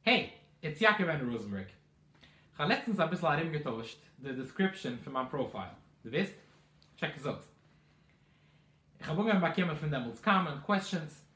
העי! איטס יעקב ענד ראזענבערג. כ'האב לעצטנס אביסל ארומגעטוישט די דעסקריפשאן פון מיין פראפייל, דו וויסט? טשעק עס אויס. כ'האב אנגעהויבן באקומען פון דעמאלטס קאמענט קוועסטשענס.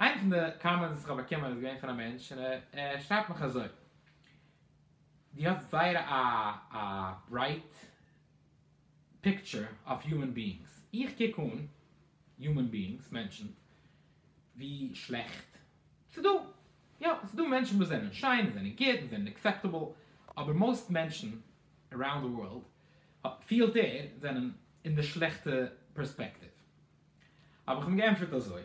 איינע פון די קאמענטס וואס כ'האב באקומען איז געווען פון א מענטש און ער שרייבט מיך אזוי, דו האסט זייער א א ברייט פיקטשער אויף יומען ביאינגס. איך קוק אן יומען ביאינגס, מענטשן, ווי שלעכט ס'דא. יא, ס'דא מענטשן וואס זענען שיין, וואס זענען גוט, וואס זענען עקסעפטעבל, אבער מאוסט מענטשן אראונד די ווארלד פילט ער זענען אין די שלעכטע פערספעקטיוו. האב איך אים געענטפערט אזוי,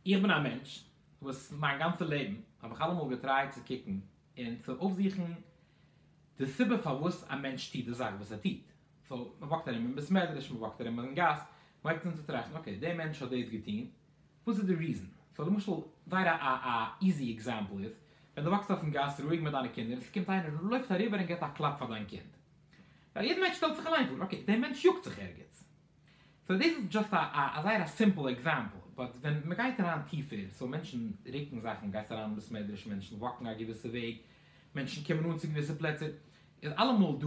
איך בין א מענטש וואס מיין גאנצע לעבן האב איך אלעמאל געטרייט צו קוקן און צו אויפזוכן די סיבה פארוואס א מענטש טוט די זאך וואס ער טוט, סאו מ'וואקט ארום אין בית מדרש, מ'וואקט ארום אין גאס, מ'הייבט אן צו טראכטן, אקעי, דער מענטש האט דאס געטון, וואס איז די ריזען? סאו למשל, זייער א א איזי עקזעמפל איז, ווען דו וואקסט אויפן גאס רואיג מיט דיינע קינדער, און ס'קומט איינער און לויפט אריבער און גיבט א קלאפ פאר דיין קינד. ווייל יעדע מענטש שטעלט זיך אליין פאר, אקעי, דער מענטש יאגט זיך ערגעץ. סאו דאס איז דזשאסט א א זייער א סימפל עקזעמפל, באט ווען מ'גייט אריין טיפער, סאו מענטשן רוקן זאכן, גייסט אריין אין בית מדרש, מענטשן וואקן א געוויסע וועג, מענטשן קומען אן צו געוויסע פלעצער, איז אלעמאל דא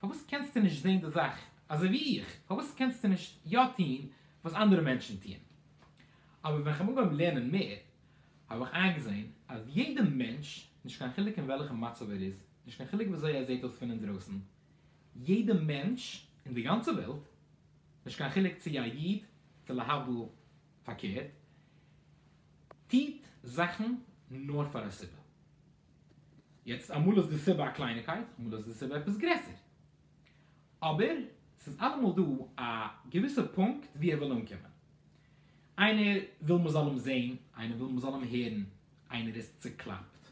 פארוואס קענסטו נישט זען די זאך אזוי ווי איך? פארוואס קענסטו נישט יא טון וואס אנדערע מענטשן טוען? אבער ווען כ'בין אנגעהויבן לערנען מער האב איך איינגעזען אז יעדע מענטש, נישט קיין חילוק אין וועלכע מצב ער איז, נישט קיין חילוק וויאזוי ער זעט אויס פון אינדרויסן, יעדע מענטש אין די גאנצע וועלט, נישט קיין חילוק צו א איד צו להבדיל פארקערט, טוט זאכן נאר פאר א סיבה. יעצט אמאל איז די סיבה א קלייניקייט, אמאל איז די סיבה עפעס גרעסער. אבער ס'איז אלעמאל דא א געוויסע פונקט וואו ער וויל אנקומען. איינער וויל מ'זאל אים זען, איינער וויל מ'זאל אים הערן, איינער איז צוקלאפט,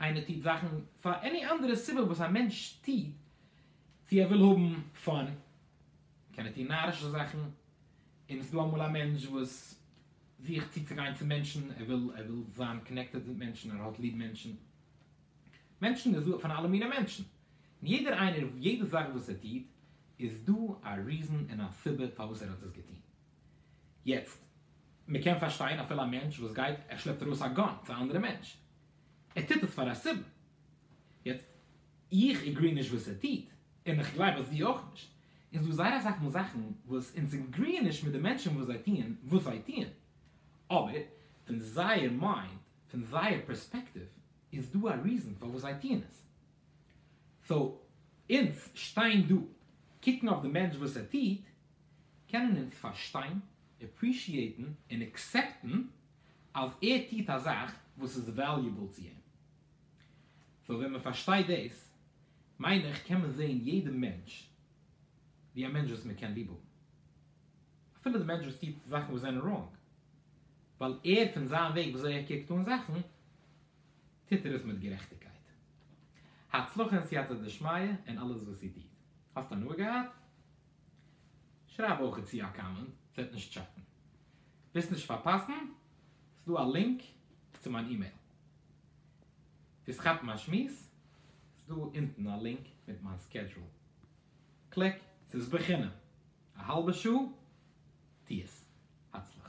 איינער טוט זאכן פאר עני אנדערע סיבה וואס א מענטש טוט, צו ער וויל האבן פאן, קען ער טון נארישע זאכן, און עס איז דא אמאל א מענטש וואס זוכט צוצוגיין צו מענטשן, ער וויל ער וויל זיין קאנעקטעד מיט מענטשן, ער האט ליב מענטשן, מענטשן איז דא פון אלע מיני מענטשן, און יעדער איינער יעדע זאך וואס ער טוט איז דא א ריזען און א סיבה פארוואס ער האט עס געטון, יעצט מען קען פארשטיין אפילו א מענטש וואס גייט ער שלעפט ארויס א גאן צו א אנדערע מענטש, ער טוט עס פאר א סיבה, יעצט איך עגרי נישט וואס ער טוט, און איך גלייב אז דו אויך נישט, און ס'דא זייער אסאך מאל זאכן וואס אונז עגריען נישט מיט די מענטשן וואס זיי טוען וואס זיי טוען, אבער פון זייער מיינד, פון זייער פערספעקטיוו, איז דא א ריזן פארוואס זיי טוען עס. סאו, אונז שטיין דא, קוקן אויף די מענטש וואס ער טוט, קענען אונז פארשטיין, עפרישיעטן, און עקסעפטן אז ער טוט א זאך וואס איז וועליובעל צו אים. סאו ווען מען פארשטייט דאס מיין איך קען מען זעהן יעדע מענטש ווי א מענטש וואס מען קען ליב האבן אפילו די מענטש וואס טוט זאכן וואס זענען ראנג ווייל ער פון זיין וועג ווי אזוי ער קוקט אן זאכן טוט ער עס מיט גערעכטיגקייט. הצלחה און סייעתא דשמיא אין אלעס וואס איר טוט. האסט הנאה געהאט? שרייב אויך צו א קאמענט, ס'וועט נישט שאטן. ווילסט נישט פארפאסן? ס'דא א לינק צו מיין אימעיל. ווילסט כאפן א שמועס? ס'איז דא אונטן א לינק מיט מיין סקעדזשועל. קליק, ס'איז בחינם. א האלבע שעה? טו עס. הצלחה.